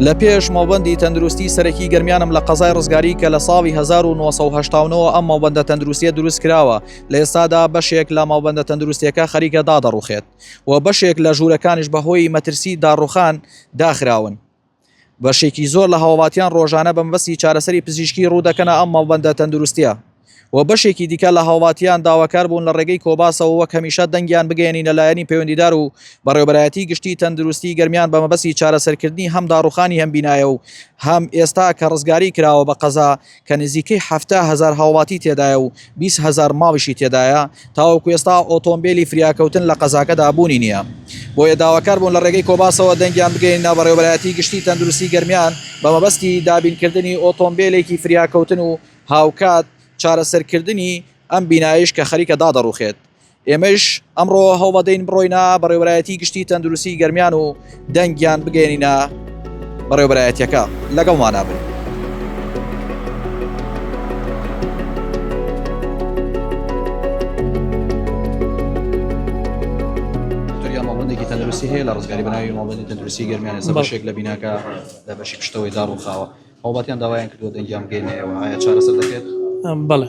لە پێش مەڵبندی تەندروستی سەرەکی گەرمیانم لە قەزای ڕزگاری کە لە ساڵی 1970ەوە ئەم مەڵبندە تەندروستیە دروست کراوە لە ئێستادا بەشێک لە مەڵبندە تەندروستیەکە خەریکە دادەڕوخێت و بەشێک لە ژوورەکانیش بەهۆی مەترسی داڕوخان داخراون بەشێکی زۆر لە هاوڵاتیان ڕۆژانە بە مەبەستی چارەسەری پزیشکی ڕوودەکەنە ئەم مەڵبەندە تەندروستیە و بەشێکی دیکە لە هاوڵاتیان داواکار بوون لە ڕێگەی کۆباسەوە وەک هەمیشە دەنگیان بگەێنینە لایەنی پەیوەندیدار و بەڕێوبەرایەتی گشتی تەندروستی گەرمیان بە مەبەستی چارەسەرکردنی هەم داڕوخانی هەم بینایە و هەم ئێستا کە ڕزگاری کراوە بە قەزا کە نزیکەی حەفتا هەزار هاوڵاتی تێدایە و بیست هەزار ماڵیشی تێدایە، تاوەکو ئێستا ئۆتۆمبێلی فریاکەوتن لە قەزاکەدا بوونی نییە، بۆیە داواکار بوون لە ڕێگەی کۆباسەوە دەنگیان بگەیەنینە بەڕێوەبەرایەتی گشتی تەندروستی گەرمیان بە مەبەستی دابینکردنی ئۆتۆمبێلێکی فریاکەوتن و هاوکات چارەسەرکردنی ئەم بینایەیش کە خەریکە دادەڕوخێت. ئێمەیش ئەمڕۆ هەوڵەدەین بڕۆینە بەڕێوەرایەتی گشتی تەندروستی گەرمیان و دەنگیان بگەێنینە بەڕێوەبەرایەتەکە لەگەڵ مانابن. تەندروستی هەیە لە ڕزگاری بەناوی ماڵبندی تەندروستی گەرمیان ێستا بەشێک لە بیناکە لە بەشی پشتەوەی داڕوخاوە هەوڵاتیان داوایان کردو دەنگیان بگەینەوە ئایا چارەسەر دەکرێت بڵێ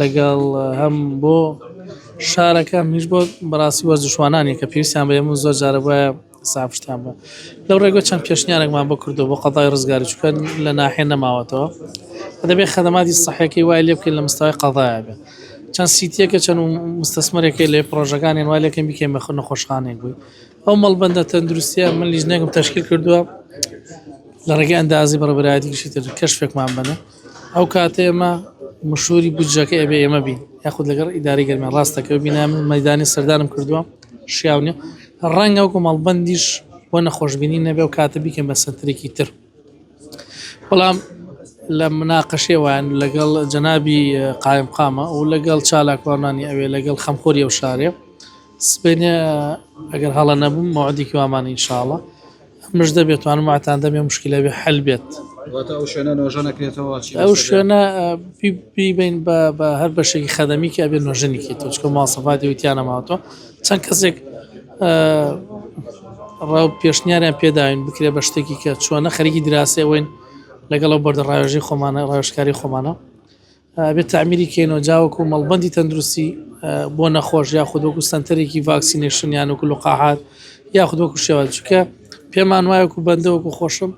لەگەڵ هەم بۆ شارەکە هەمیش بۆ بەڕاستی وەرزشوانانی کە پێویستیان بە یەمن زۆر جارە بایە سافشتیان بە لەو ڕێگە چەند پێشنیارێکمان بۆ کردو بۆ قەزای ڕزگاری چکە لە ناحێ نەماوەتەوە دەبێ خەدەماتی سەحەکەی وای لێ بکەین لە مستای قەزایە بێ چەند سیتیەکە چەند مستەسمەرەکەی لێ پرۆژەکانیان وای لەکەم بکەین بە نەخۆشخانێک بووی ئەو مەڵبندە تەندروستیە من لیژنێکم تەشکیل کردووە لە ڕێگەی ئەندازی بەڕبرایەتیشی تر کەشفێکمان بنە ئەو کاتە ئێمە مشوری بودجەکە ئەبێ ئێمە بین یاخود لەگەڵ ئیدارەی گەرمیان ڕاستەکەوت بینە من مەدانی سەردانم کردووە شیاو نیە ڕەنگە وەکو مەڵبندیش بۆ نەخۆشببینی نەبێ و کاتە بیکەن بە سەترێکی تر بەڵام لە مناقەشێ وان لەگەڵ جەنابی قایم قامە و لەگەڵ چالاکوانانی ئەوێ لەگەڵ خەمخۆری ئەو شارێ سبێنێ ئەگەر هەڵە نەبووم مادیکی وامانە ئینشاڵە مژدە بێت توانم واتان دەم یە مشکلە بێ حل بێت واتە ئەو شوێنە نۆژە نەکرێتەوە چی ئەو بەسەر شوێنە ئە، پی پی بین بە بە هەر بەشێکی خەدەمی کە ئەبێ نۆژەنیکی تۆ چکە مواصفاتی وتیانە ماوەتەوە چەند کەسێک ئە، ڕا پێشنیاریان پێداوین بکرێ بە شتێکی کە چۆنە خەریکی دراسەوەین لەگەڵ ئەو بەردە ڕاوێژەی خۆمانە ڕاوێژکاری خۆمانە ئەبێت تەعمیری کەینەوە جا وەکو مەڵبەندی تەندروستی بۆ نەخۆش یاخود وەکو سەنتەرێکی ڤاکسینەشن یان وەکو لقاحات یاخود وەکو شێوان چکە پێمان وایەکو بەندە وەکو خۆشم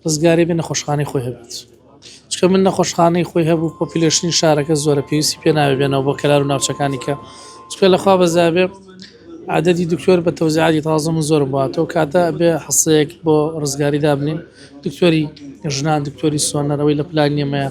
ڕزگاری بێ نەخۆشخانەی خۆی هەبێت چکە من نەخۆشخانەی خۆی هەبوو پۆپیلشنی شارەکە زۆرە پێویستی پێ ناوێ بێنەوە بۆ کەلار و ناوچەکانی کە چکە لەخوا بەزابێ عادەدی دکتۆر بە تەوزیعاتی تازە من زۆرم باتەوە کاتە بێ حەسەیەک بۆ ڕزگاری دابنین دکتۆری ژنان دکتۆری سۆنەرەوەی لە پلان نیێمەیە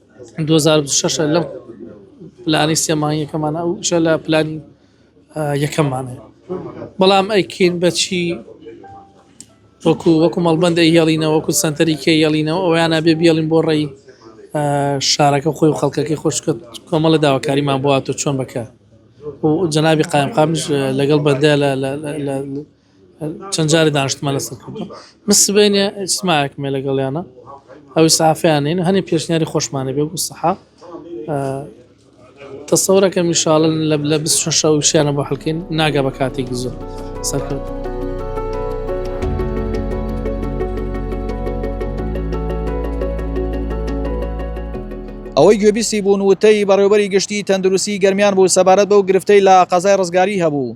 دوو هەزار و بیست و شەش ە لەم پلانی سێ مانگیەکەمانە ئەو شە لە پلانی یەکەممانە بەڵام ئەیکین بەچی وەکو وەکو مەڵبند ئەیهێڵینە وەکو سنتەری کێ یێڵینەوە ئەویانە بێ بێڵین بۆ ڕێی شارەکە خۆی و خەڵکەکەی خۆشکە کۆمەڵە داواکاریمان بووە تۆ چۆن بکە و جەنابی قایمقامش لەگەڵ بەدە لە چەند جارێ دانیشتمان لەسەر کردووە من سبەینێ ئیجتماعێکمێ لەگەڵیانە ئەو ئیسعافیان نین هەنێ پێشنیاری خۆشمانێ بێ بوو سەحا تەسەورەکەم ئینشاڵە لە لە بیست شەش شەو شیانە بۆ هەلکەین ناگا بە کاتێکی زۆر سەرکەوت ئەوەی گوێبیستی بوون وتەی بەڕێوبەری گشتی تەندروستی گەرمیان بوو سەبارەت بەو گرفتەی لە قەزای ڕزگاری هەبوو